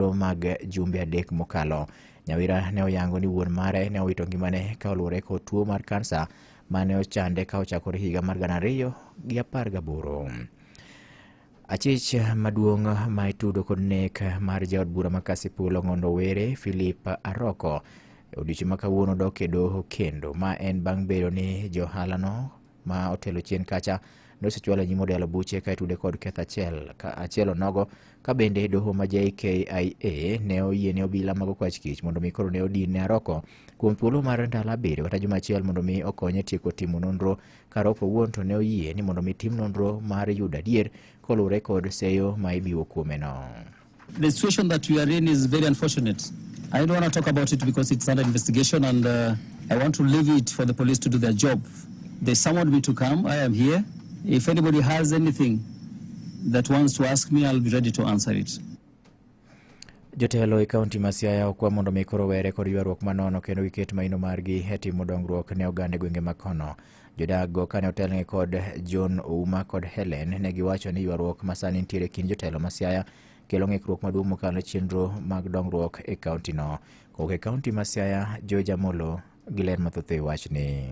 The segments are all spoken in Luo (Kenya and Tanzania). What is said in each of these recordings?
thuolo mag jumbe adek mokalo. Nyawira ne oyango ni wuon mare ne owito ngimane ka oluwore kod tuo mar kansa ma ne ochande ka ochakore higa mar gana ariyo gi apar gaboro. Achich maduong' ma itudo kod nek mar jaod bura ma Kasipul Ong'ondo Were Philip Aroko e odiechieng' ma kawuono dok e doho kendo ma en bang' bedo ni johalano ma otelo chien kacha nosechwalo nyim odelo buche ka itude kod ketho achiel ka achiel onogo ka bende doho ma JKIA ne oyie ne obila mago kwach kich mondo mi koro ne odin ne Aroko kuom thuolo mar ndalo abiriyo kata juma achiel mondo mi okonye tieko timo nonro ka Aroko owuon to ne oyie ni mondo mi tim nonro mar yudo adier koluwore kod seyo ma ibiwo kuomeno. The situation that we are in is very unfortunate. I don't want to talk about it because it's under investigation and uh, I want to leave it for the police to do their job. They summoned me to come. I am here. If anybody has anything that wants to ask me, I'll be ready to answer it. Jotelo e kaunti ma Siaya okwa mondo mi koro were kod ywaruok manono kendo giket maino margi e timo dongruok ne oganda e gwenge ma kono. Jodago kane otelnegi kod John Ouma kod Helen ne giwacho ni ywaruok ma sani nitiere kind jotelo ma Siaya kelo ng'ikruok maduong' mokalo chenro mag dongruok e kaontino. Kowuok e kaonti ma Siaya, George Amolo gi ler mathoth e wachni.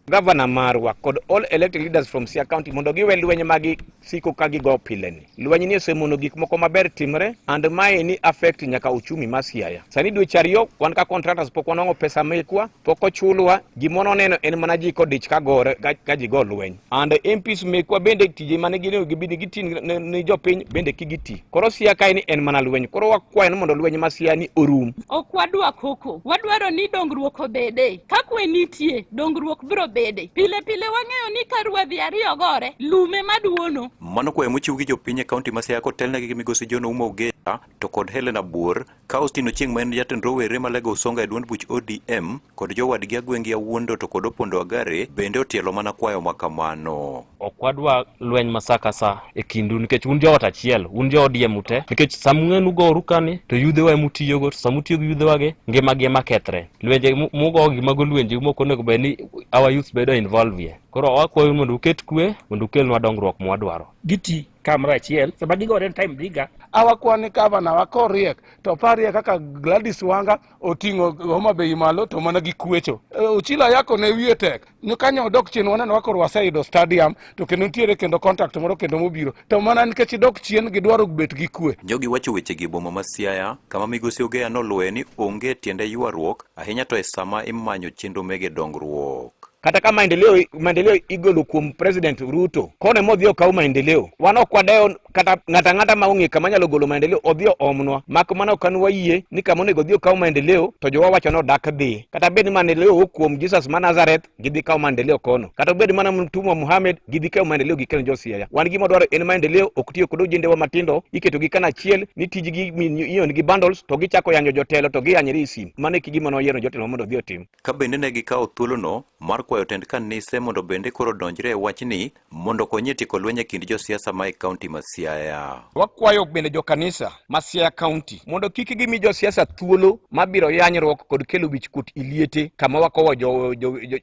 Gavana marwa kod all elected leaders from Siaya County mondo giwe lweny ma gisiko ka gigo pileni. Lweny ni osemono gik moko maber timre and mae ni affect nyaka uchumi ma Siaya. Sani dweche ariyo wan ka contractors pok wanwang'o pesa mekwa pok ochulwa gima noneno en mana ji kodich ka gore ka ji go lweny and MPs mekwa bende tije mane gin gibini giti ni jopiny bende kigiti koro sia kae ni en mana lweny koro wakwayo ni mondo lweny ma sia ni orum ok wadwa koko wadwaro ni dongruok obede ka kwe nitie dongruok biro bede pile pile wang'eyo ni ka ruedhi ariyo gore lume maduono mano kwayo mochiw gi jopiny e kaunti ma sia kotelnegi gi migosi John Ouma Ogeya to kod Helena Buor Ka Austin Ochieng ma en jatend rowere ma Lego Usonga e duond buch ODM kod jowadgi Agwengi Awuondo to kod Opondo Agare bende otielo mana kwayo ma kamano. ok wadwa lweny ma saa ka saa e kindu nikech un joot achiel un jo ODM ute nikech sama ung'e nugoru kani to yudhewa ema utiyogo to sama utiyo gi yudhewagi ngimagi ema kethre lwenje mu- mugo gi mago lwenje ma ok onego bed ni our youth bedo involve ye koro wakwayou mondo uket kwe mondo ukelnwa dongruok mwadwaro Giti kamoro achiel sama gigore time diga awakwa ni gavana wa koriek to oparie kaka Gladys Wanga oting'o Homa Bay malo to mana gi kuecho Eh, Ochilo Ayako ne wiye tek ni kanyo odok chien waneno wa koro waseyudo stadium to kendo nitiere kendo contract moro kendo mobiro to mana nikech idok chien gidwaro bet gi kue Jogi wacho wechegi e boma ma Siaya, kama migosi Ogeya noluwoe ni onge tiende ywaruok, ahinya to e sama imanyo chenro mege dongruok. kata ka maendeleo maendeleo igolo kuom president Ruto kone modhi okaw maendeleo wan ok wadewo kata ng'ata ng'ata ma ong'e kama nyalo golo maendeleo odhi oomnwa mak mana ok an wayie ni kama onego odhi okaw maendeleo to jowa wacho ni odak dhi kata bed ni maendeleo owuok kuom Jesus ma Nazareth gidhi kaw maendeleo kono kata obed mana mtumwa Muhammad gidhi kaw maendeleo gi Ken Josiaya wan gima dwaro en maendeleo ok tiyo kod ojendewa matindo iketo gi kana achiel ni tijgi ion gi bundles to gichako yanyo jotelo to giyanyre e sim mane kigima noyiero jotelo mondo odhi otim ka bende ne gikawo thuolono mar kwayo tend kanise mondo bende koro donjre e wachni mondo konye tieko lweny e kind josiasa ma e kaunti ma Siaya. Wakwayo bende jo kanisa ma Siaya kaunti mondo kik gimi josiasa thuolo ma biro yanyruok kod kelo wichkuot iliete kama wakowo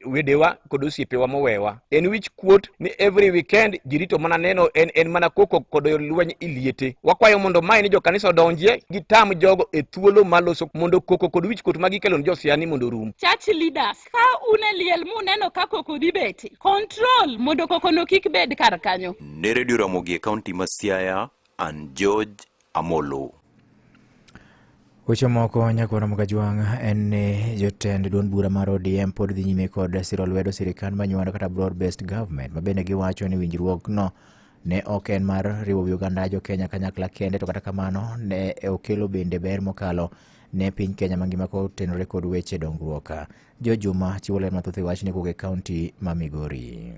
wedewa kod osiepewa mowewa. en wich kuot ni every weekend jirito mana neno en, en mana koko kod lweny iliete wakwayo mondo mae ni jokanisa odonjie gitam jogo e thuolo maloso mondo koko kod wich kuot magikelo ni josiani mondo rum church leaders ka une liel muneno ka koko dhi beti control mondo kokono kik bed kar kanyo ne redio ramogi e kaunti ma siaya an george Amolo. Weche moko nyakoro Mukajwang' en ni jotend duond bura mar ODM pod dhi nyime kod siro lwedo sirikand manyuando kata broad based government ma bende giwacho ni winjruokno ne ok en mar riwo wi oganda jo Kenya kanyakla kende to kata kamano ne okelo bende ber mokalo ne piny Kenya mangima kotenore kod weche dongruok. Jo Juma chiwo ler mathoth e wachni kowuok e kaunti ma Migori.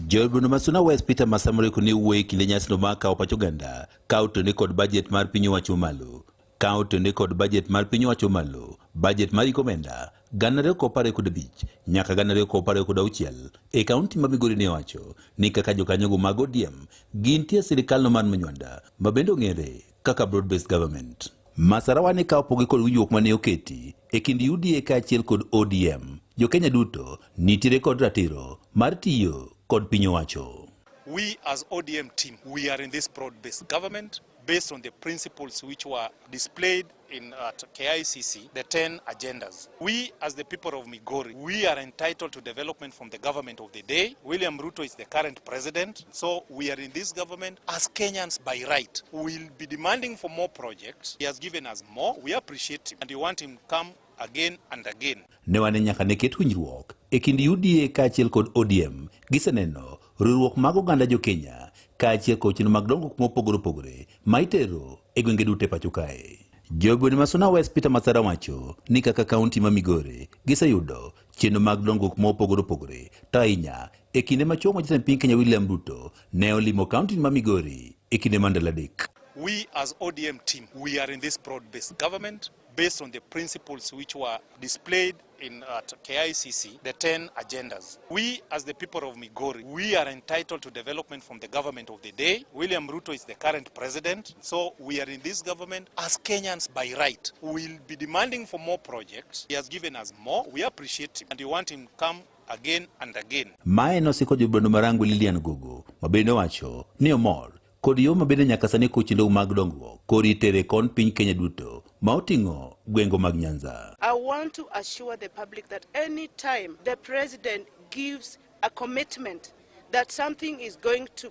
Jood Bunda ma Suna West Peter Masamore kone wuoye kinde nyasino ma kawo pach oganda kawo tone kod bajet mar piny owacho malo kawo tone kod bajet mar piny owacho malo bajet mar iko omenda gana ariyo kod apar kod abich nyaka gana ariyo kod apar kod auchiel e kaunti ma Migori ne owacho ni kaka jokanyogo mag ODM gintie e sirikalno mar Manywanda ma bende ong'ere kaka broad based government. Masarawa ne ka opogi kod winjruok mane oketi e kind UDA kaachiel kod ODM, jo-Kenya duto nitiere kod ratiro mar tiyo kod piny owacho. We as ODM team, we are in this broad-based government based on the principles which were displayed in at KICC, the 10 agendas. We as the people of Migori, we are entitled to development from the government of the day. William Ruto is the current president. So we are in this government as Kenyans by right. We will be demanding for more projects. He has given us more. We appreciate him and we want him come again and again. Ne wane nyaka ne ket winjruok e kind UDA kaachiel kod ODM giseneno riwruok mag oganda jo Kenya kaachiel kod chenro mag dongruok mopogore opogore ma itero e gwenge duto e pacho kae. Jogweng' ma Suna West Peter Mathara wacho ni kaka kaunti ma Migori giseyudo chenro mag dongruok ma opogore opogore to ahinya e kinde ma chuo jatend piny Kenya William Ruto ne olimo kaunti ma Migori e kinde ma ndalo adek. We as ODM team, we are in this broad-based government based on the principles which were displayed in at KICC, the 10 agendas. We, as the people of Migori, we are entitled to development from the government of the day. William Ruto is the current president. So we are in this government as Kenyans by right. We will be demanding for more projects. He has given us more. We appreciate him and we want him come again and again. Mae nosiko jobando marangu Lilian Gogo mabende wacho ni omor kod yo mabende nyaka sani kuchindogu mag dongruok kod itere kon piny Kenya duto ma oting'o gwengo mag Nyanza. I want to assure the public that any time the president gives a commitment that something is going to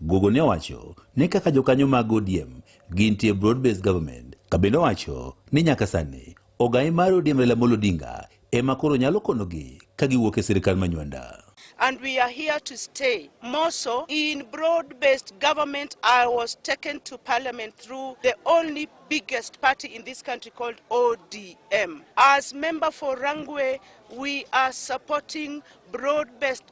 Gogo ne owacho ni kaka jokanyo mag ODM gintie broad based government ka bende owacho ni nyaka sani ogai mar ODM Raila Amolo Odinga ema koro nyalo konogi ka giwuok e sirkal manywanda. and we are here to stay. More so, in broad-based government, I was taken to parliament through the only biggest party in this country called ODM. As member for Rangwe, we are supporting broad-based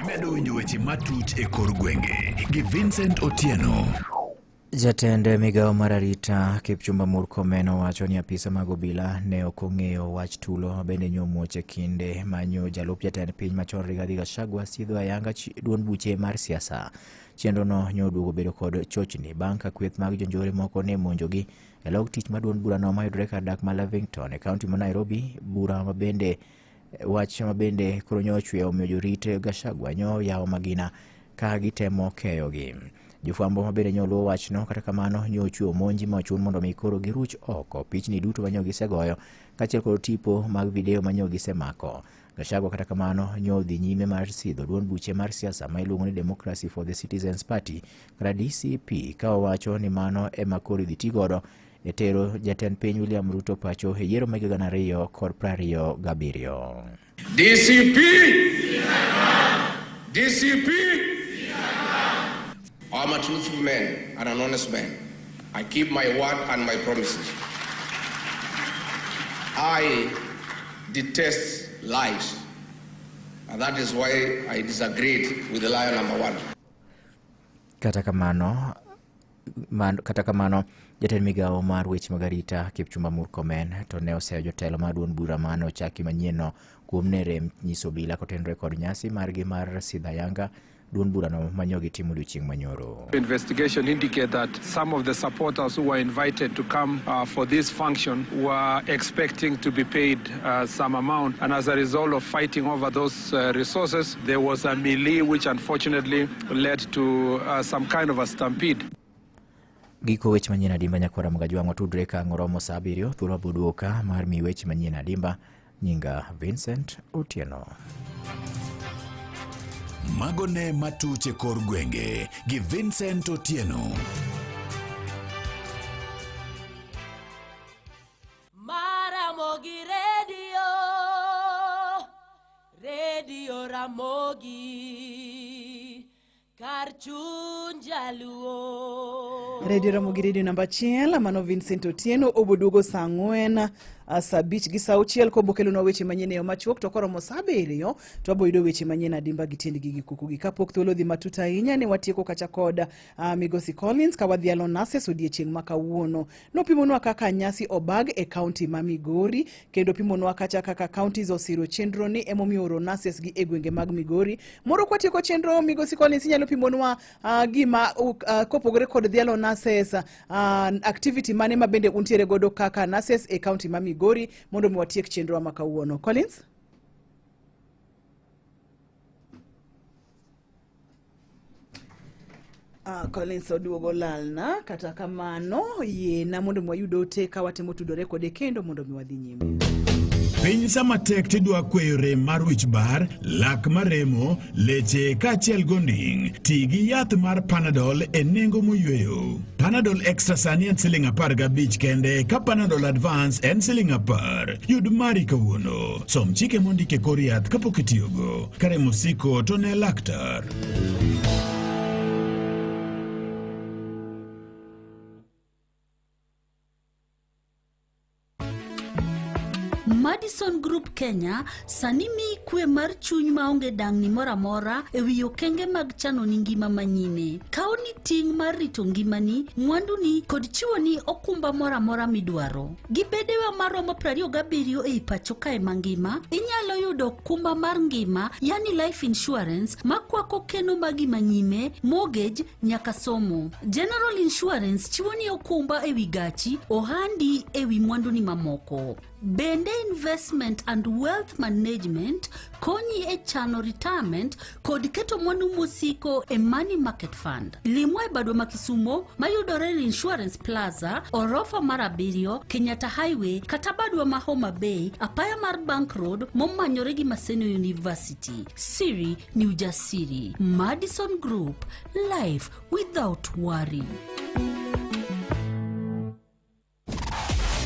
Imedo winjo weche matut e kor gwenge gi Vincent Otieno. Jatend migawo mar arita Kipchumba Murkomen owacho ni apisa mag obila ne ok ong'eyo wach tulo ma bende nyomuoch e kinde manyo jalup jatend piny machon Rigathi Gachagua sidho ayanga chi- duond buche mar siasa. Chenrono nyoduogo bedo kod chochni bang' ka kweth mag jonjore moko ne monjogi e log tich ma duond burano mayudore kar dak ma Lavington e kaunti ma Nairobi, bura ma bende Wach ma bende koro nyo ochwe omiyo jorit Gachagua nyo yawo magina ka gitemo keyogi. Jofwambo ma bende nyo luwo wachno kata kamano nyo ochwe omonji ma ochun mondo mi koro giruch oko pichni duto ma nyo gisegoyo kaachiel kod tipo mag video ma nyo gisemako. Gachagua kata kamano nyo odhi nyime mar sidho duond buche mar siasa ma iluongo ni Democracy for the Citizens Party kata DCP ka owacho ni mano ema koro idhi ti godo e tero jatend piny William Ruto pacho e yiero mag gana ariyo kod prariyo gabiriyo. DCP DCP I'm a truthful man and an honest man. I keep my word and my promises. I detest lies. And that is why I disagreed with the liar number one. Kata kamano Man, kata kamano jatend migawo mar weche mag arita kipchumba murkomen to ne oseyo jotelo mar duond bura mane ochaki manyienno kuom ne rem nyiso obila kotenore kod nyasi margi mar sidha yanga duond burano manyogi timo odiochieng' manyoro Investigation indicate that some of the supporters who were invited to come uh, for this function were expecting to be paid uh, some amount, and as a result of fighting over those uh, resources, there was a melee which unfortunately led to uh, some kind of a stampede. Giko weche manyien adimba nyakwara mga jwang'o tudre ka ng'oromo sa abiriyo thuolo abuduoka mar mi weche manyien adimba nyinga Vincent Otieno. Mago ne matuche kor gwenge gi Vincent Otieno. Radio Ramogi kar chuny jaluo. Radio Ramogi redio namba achiel mano Vincent Otieno oboduogo saa ang'wen ah, saa abich gi saa auchiel kobokelonwa weche manyien e yo machuok to koromo saa abiriyo to aboyudo weche manyien adimba gi tiendgi gi kukugi kapok thuolo odhi matut ahinya ne watieko kacha kod Uh, Migosi Collins kawadhialo nases odiechieng' ma kawuono nopimonwa kaka nyasi obag e kaunti ma Migori kendo pimonwa kacha kaka counties osiro chenro ni emomiyo oro nases gi e gwenge mag Migori. Moro kwatieko chenro Migosi Collins inyalo pimonwa uh, gima uh, kopogore kod dhialo nases uh, activity mane ma bende untiere godo kaka nases e kaunti ma Migori mondo mi watiek chenro ma kawuono. Collins? Uh, Collins oduogo lalna kata kamano yiena mondo mi wayud ote ka watemo tudore kode kendo mondo mi wadhi nyime piny sama tek tidwa kweyo rem mar wich bar lak maremo leche kaachiel gonding ti gi yath mar panadol e nengo moyweyo panadol extra sani en siling apar gabich kende ka panadol advance en siling apar yud mari kawuono som chike mondike kor yath kapok itiyogo Kare mosiko to ne laktar. Madison Group Kenya sani miyi kwe mar chuny maonge dang'ni moro amora e wi okenge mag chano ni ngima manyime. Kawo ni ting' mar rito ngimani, mwanduni kod chiwoni okumba moro amora midwaro. Gi bedewa maromo 27 ei pacho kae mangima, inyalo yudo okumba mar ngima yani life insurance makwako keno magi manyime, mortgage nyaka somo. General Insurance chiwo ni okumba ewi gachi, ohandi ewi mwanduni mamoko. Bende investment and wealth management konyi e chano retirement kod keto mwandu mosiko e Money Market Fund. Limwa e badwa ma Kisumo mayudore e Insurance Plaza, orofa mar abiriyo, Kenyatta Highway kata badwa ma Homa Bay, apaya mar Bank Road momanyore gi Maseno University. Siri ni ujasiri. Madison Group, life without worry.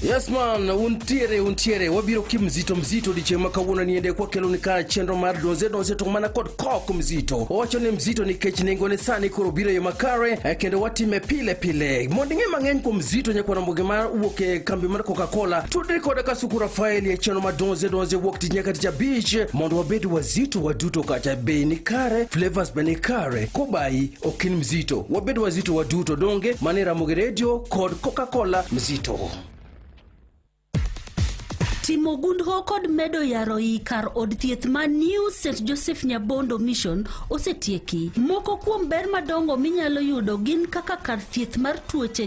Yes man, untiere untiere wabiro ki mzito mzito diche makawuono niende kwa kelo nika chenro mar donze donze to mana kod kok mzito. Owacho ni mzito nikech nengo ne sani koro biro yo makare eh, kendo watime pile pile. Mondo ing'e mang'eny kuom mzito nyaka na mboge mar wuok e kambi mar Coca-Cola. Tudri koda Kasuku Rafael ya chenro mar donze donze wuok tich nyaka tich abich mondo wabed wazito waduto kata bei ni kare, flavors be ni kare. Kobai okin mzito wabed wazito waduto donge mane ramogi redio kod coca-cola mzito timo gundho kod medo yaro i kar od thieth ma new st joseph nyabondo mission osetieki moko kuom ber madongo minyalo yudo gin kaka kar thieth mar tuoche